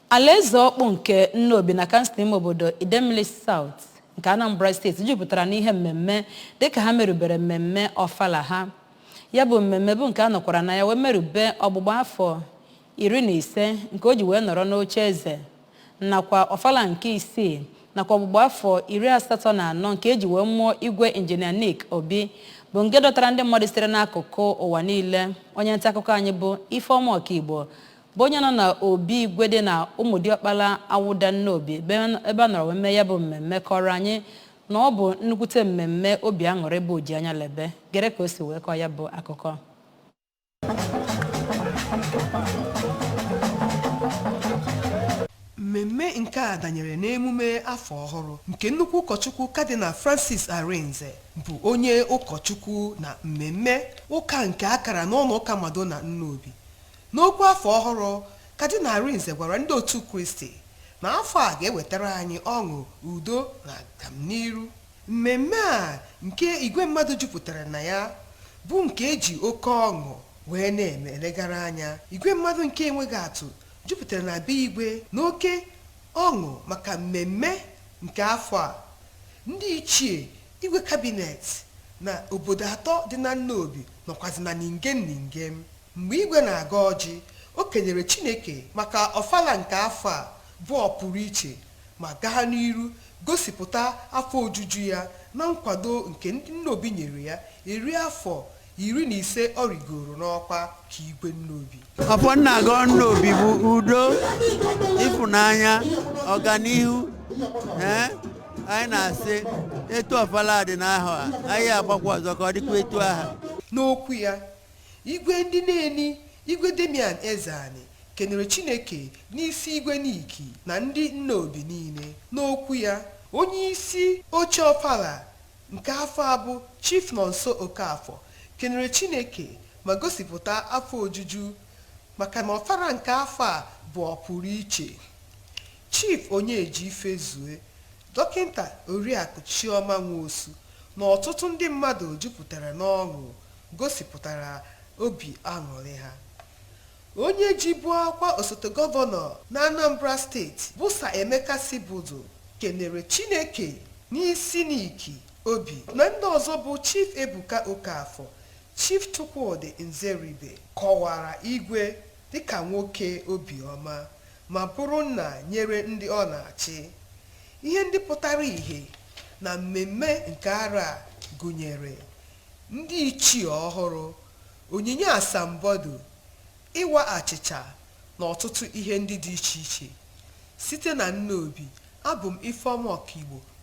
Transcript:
Alaeze ọkpụ nke Nnobi na kansụl ime obodo Idemmili South nke Anambra steeti jupụtara n'ihe mmemme dịka ha merubere mmemme ọfala ha. Ya bụ mmemme bụ nke a nọkwara na ya wee merube ọgbụgba afọ iri na ise nke o ji wee nọrọ n'oche eze nakwa ọfala nke isii nakwa ọgbụgba afọ iri asatọ na anọ nke eji wee mụọ igwe injinia Nick Obi bụ nke dọtara ndị mmadụ sitere n'akụkụ ụwa niile. Onye nta akụkọ anyị bụ Ifeọma Ọkaigbo bụ onye nọ na obi igwe dị na ụmụdiọkpala awụda nnobi ebe a nọrọ wee mee ya bụ mmemme kọrọ anyị na ọ bụ nnukwute mmemme obi aṅụrị bụ o ji anya lebe gere ka o si wee kọọ ya bụ akụkọ mmemme nke a danyere n'emume afọ ọhụrụ nke nnukwu ụkọchukwu kadinal francis arinze bụ onye ụkọchukwu na mmemme ụka nke a kara n'ụlọ ụka madonna nnobi N'okwu afọ ọhụrụ, Kadinal Arinze gwara ndị otu Kristi na afọ a ga-ewetara anyị ọṅụ, udo, na agamniiru. Mmemme a nke igwe mmadụ jupụtara na ya bụ nke e ji oke ọṅụ wee na-eme elegara anya. Igwe mmadụ nke enweghị atụ jupụtara na be Igwe n'oke ọṅụ maka mmemme nke afọ a. Ndị ichie, Igwe kabinet na obodo atọ dị na Nnobi nọkwazị na ningem ningem. Mgbe Igwe na-agọ ọjị, o kenyere Chineke maka Ọfala nke afọ a bụ ọpụrụ iche ma gaa n'iru gosipụta afọ ojuju ya na nkwado nke ndị Nnobi nyere ya eri afọ iri na ise ọ rigooro n'ọkwa ka Igwe Nnobi. Ọfọ m na-agọ Nnobi bụ udo, ịfụnanya, ọganihu. Ee, anyị na-asị etu Ọfala a dị n'ahọ a, anyị agbakwa ọzọ ka ọ dịkwa etu ahụ. N'okwu ya, Igwe ndị Neni, Igwe Damian Ezeani, kenere Chineke n'isi Igwe Nick na ndị Nnobi niile. N'okwu ya, onye isi oche Ofala nke afọ a bụ Chief Nonso Okafor kenere Chineke ma gosipụta afọ ojuju maka na Ofala nke afọ a bụ ọpụrụ iche. Chief Onyeji Ifezue, Dọkịnta Oriakụ Chioma Nwosu na ọtụtụ ndị mmadụ jupụtara n'ọṅụ gosipụtara obi aṅụrị ha. Onye jibu ọkwa osote gọvanọ n'Anambra steeti bụ Sir Emeka Sibeudu kenere Chineke n'isi Nick Obi na ndị ọzọ bụ Chief Ebuka Okafor, Chief Chukwudi Nzeribe kọwara Igwe dịka nwoke obi ọma ma bụrụ nna nyere ndị ọ na-achị. Ihe ndị pụtara ihe na mmemme nke arọ a gụnyere Ndị ichie ọhụrụ, onyinye asambodo, ịwa achịcha na ọtụtụ ihe ndị dị iche iche. Site na Nnobi, abụ m Ifeoma Ọkaigbo